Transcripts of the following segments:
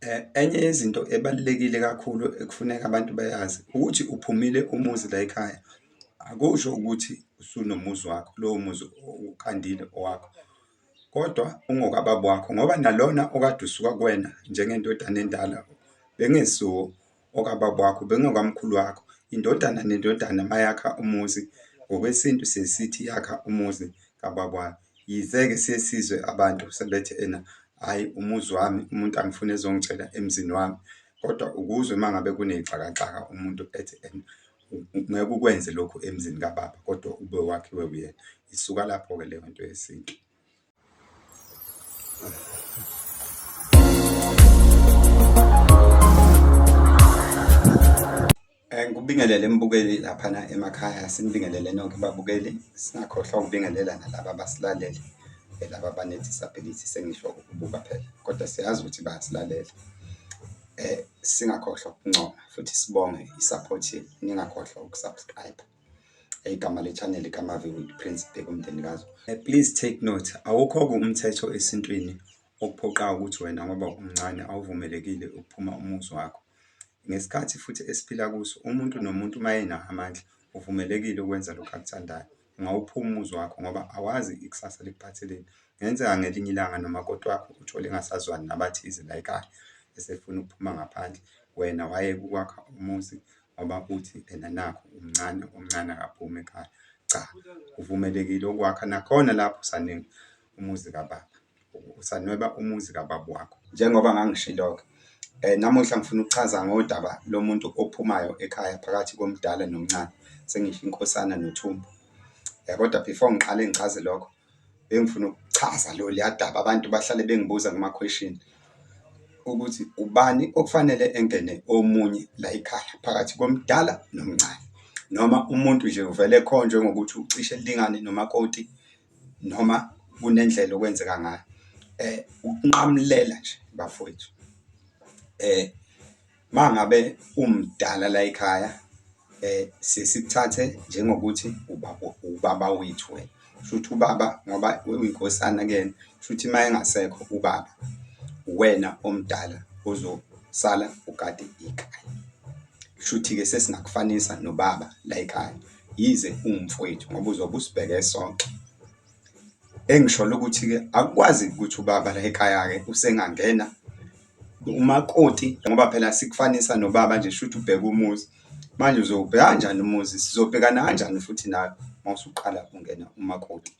Eh, enye yezinto ebalulekile kakhulu ekufuneka abantu bayazi ukuthi uphumile umuzi la ekhaya akusho ukuthi usunomuzi wakho lowo muzi uqandile owakho kodwa ungokababa wakho ngoba nalona okade usuka kuwena njengendodana endala bengesuwo okababa wakho bengokamkhulu wakho. Indodana nendodana mayakha umuzi ngokwesintu sesithi yakha umuzi kababa wayo. Yize-ke sesizwe abantu sebethi ena hhayi umuzi wami umuntu angifuni ezongitshela emzini wami. Kodwa ukuzwe uma ngabe kuney'xakaxaka umuntu ethi ena ngeke ukwenze lokhu emzini kababa kodwa ube wakhiwe uyena. Isuka lapho-ke leyo nto yesintu. Ngikubingelele embukeli laphana emakhaya, sinibingelele nonke babukeli, singakhohlwa ukubingelela nalaba abasilalele laba abanedisability sengisho ukubuka phela, kodwa siyazi ukuthi bayasilalela. Eh, singakhohlwa ukuncoma futhi sibonge i-support yenu, ningakhohlwa uku-subscribe. igama le-channel kamavi with prince bheka umndeni kazo eh, please take note awukho-ke umthetho esintwini okuphoqayo ukuthi wena ngoba umncane awuvumelekile ukuphuma umuzi wakho ngesikhathi futhi esiphila kuso umuntu nomuntu uma enawo amandla uvumelekile ukwenza lokhu akuthandayo ungawuphuma umuzi wakho ngoba awazi ikusasa likuphatheleni ngenzeka ngelinye ilanga nomakoti wakho uthole engasazwani nabathize layikaya esefuna ukuphuma ngaphandle wena waye kukwakha umuzi ngoba uthi ena nakhu umncane umncane akaphume ekhaya cha uvumelekile ukwakha nakhona lapho usaningi umuzi kababa usanweba umuzi kababa wakho njengoba ngangishilo-ke eh namuhla ngifuna ukuchaza ngodaba lomuntu ophumayo ekhaya phakathi komdala nomncane sengisho inkosana nothumbu eh kodwa before ngiqale ngichaze lokho Bengifuna ukuchaza lo liyadaba abantu bahlale bengibuza kuma question ukuthi ubani okufanele engene omunye la ekhaya phakathi komdala nomncane noma umuntu nje uvele khonjwe ngokuthi ucishe lingane nomakoti noma kunendlela okwenzeka ngayo eh ukunqamulela nje bafowethu eh mangabe umdala la ekhaya eh sesithathe njengokuthi ubaba ubaba wethu wena shuthi ubaba ngoba uyinkosana kuyena shuthi uma engasekho ubaba wena omdala uzosala ugade ikhaya shuthi ke sesingakufanisa nobaba la ekhaya yize ungumfowethu ngoba uzobe usibheke sonke engisholo ukuthi ke akwazi ukuthi ubaba la ekhaya ke usengangena Umakoti ngoba phela sikufanisa nobaba nje shuthi ubheka umuzi manje uzowubheka kanjani umuzi sizobhekana kanjani futhi nawe uma usuqala ungena umakoti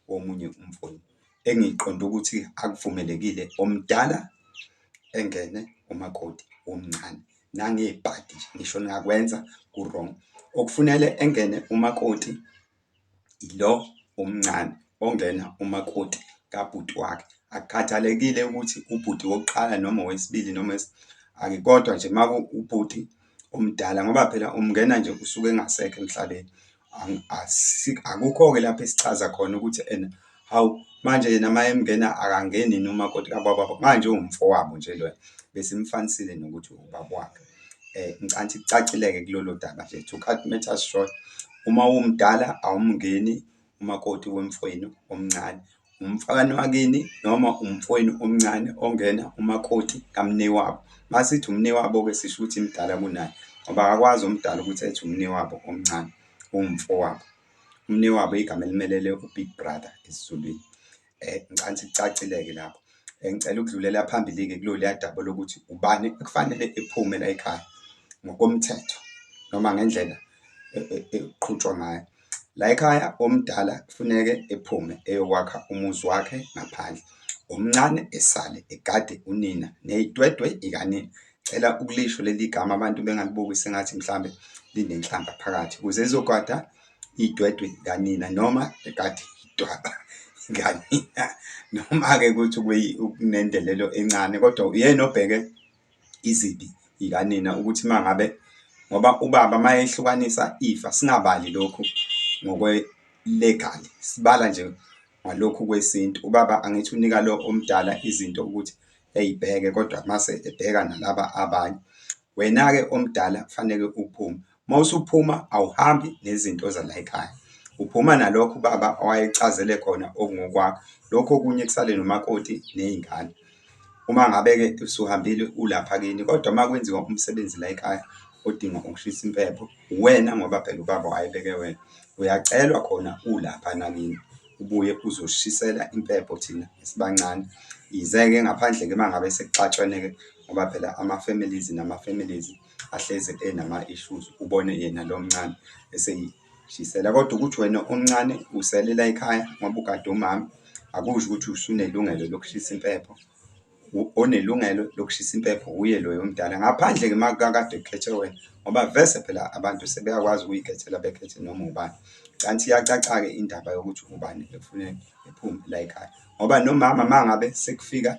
womunye umfuni engiqonde ukuthi akuvumelekile omdala engene umakoti womncane nangebhadi ngisho ningakwenza ku-wrong okufunele engene umakoti ilo omncane ongena umakoti kabhuti wakhe. Akukhathalekile ukuthi ubhuti wokuqala noma owesibili noma ake kodwa nje uma ubhuti omdala ngoba phela umngena nje usuke engasekho emhlabeni. Akukho-ke lapho esichaza khona ukuthi ena. hawu manje yena uma emngena akangeni yini umakoti kababa manje uwumfowabo nje loya besimfanisile nokuthi ubaba wakhe eh ngicanthi kucacileke kulolu daba nje to cut matters short uma umdala awumngeni umakoti wemfowenu omncane umfana wakini noma umfowenu omncane ongena umakoti kamnewabo masithi umnewabo ke sisho ukuthi imdala kunaye ngoba akakwazi umdala ukuthi ethi umnewabo omncane umfowabo Umnewabo igama elimelele uBig Brother esiZulwini. Eh ngicela sicacile-ke lapho. Eh, ngicela ukudlulela phambili-ke kulolu yadaba lokuthi ubani ekufanele ephume la ekhaya ngokomthetho noma ngendlela e, e, eqhutshwa ngayo. La ekhaya omdala kufuneke ephume eyokwakha umuzi wakhe ngaphandle. Omncane esale egade unina ney'twetwe ikanina Cela ukulisho leli gama abantu bengalibuki sengathi mhlambe linenhlamba phakathi kuze izogwada idwedwe kanina noma ekade idwaba kanina noma ke ukuthi kunendelelo encane kodwa uyena obheke izibi ikanina ukuthi mangabe ngoba ubaba mayehlukanisa ifa singabali lokhu ngokwe legal sibala nje ngalokhu kwesintu ubaba angithi unika lo omdala izinto ukuthi eyibheke kodwa mase ebheka nalaba abanye. Wena-ke omdala kufanele uphume. Uma usuphuma awuhambi nezinto zala ekhaya. Uphuma nalokho ubaba owayecazele khona okungokwakho. Lokho okunye kusale nomakoti nezingane. Uma ngabe-ke usuhambile ulapha kini kodwa uma kwenziwa umsebenzi la ekhaya odinga ukushisa impepho, uwena ngoba phela ubaba wayebeke wena. Uyacelwa khona ulapha nakini. ubuye uzoshisela impepho thina esibancane. Yize-ke ngaphandle-ke uma ngabe sekuxatshwene-ke ngoba phela ama-families nama-families ahlezi enama-issues, ubone yena lo mncane eseyishisela. Kodwa ukuthi wena omncane uselela ekhaya ngoba ugade umama, akusho ukuthi usunelungelo lokushisa impepho. onelungelo lokushisa impepho wuye loyo omdala ngaphandle-ke uma kakade kukhethe wena ngoba vese phela abantu sebeyakwazi ukuyikhethela bekhethe noma ubani kanti iyacaca-ke indaba yokuthi ubani ekufuneka ephume la ekhaya ngoba nomama uma ngabe sekufika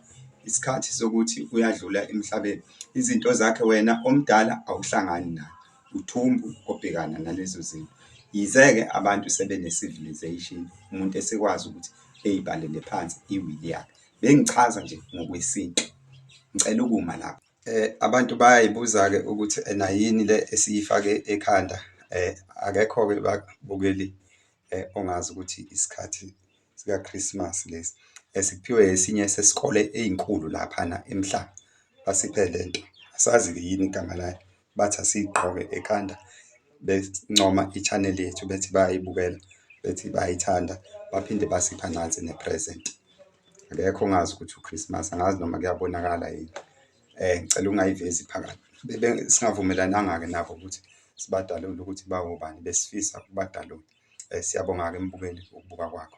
isikhathi sokuthi uyadlula emhlabeni izinto zakhe wena omdala awuhlangani naye uthumbu obhekana nalezo zinto yize-ke abantu sebe-ne-civilization umuntu esekwazi ukuthi eyibhalele phansi iwili yakhe bengichaza nje ngokwesintu ngicela ukuma lapho. Eh abantu bayayibuza-ke ukuthi ena yini le esiyifake ekhanda eh akekho-ke bakubukeli eh ongazi ukuthi isikhathi sikaChristmas lesi esiphiwe eh, esinye sesikole ezinkulu laphana emhlaba basiphe lento asazi yini igama layo bathi asiyigqoke ekhanda bencoma i-channel yethu bethi bayayibukela, bethi bayayithanda, baphinde basipha nansi ne-present. Akekho ongazi ukuthi u-Christmas, angazi noma kuyabonakala yini. Ngicela ungayivezi phakathi. Singavumelananga-ke nabo ukuthi sibadalule ukuthi bawobani, besifisa ukubadalula. Siyabonga-ke mbukeli ukubuka kwakho.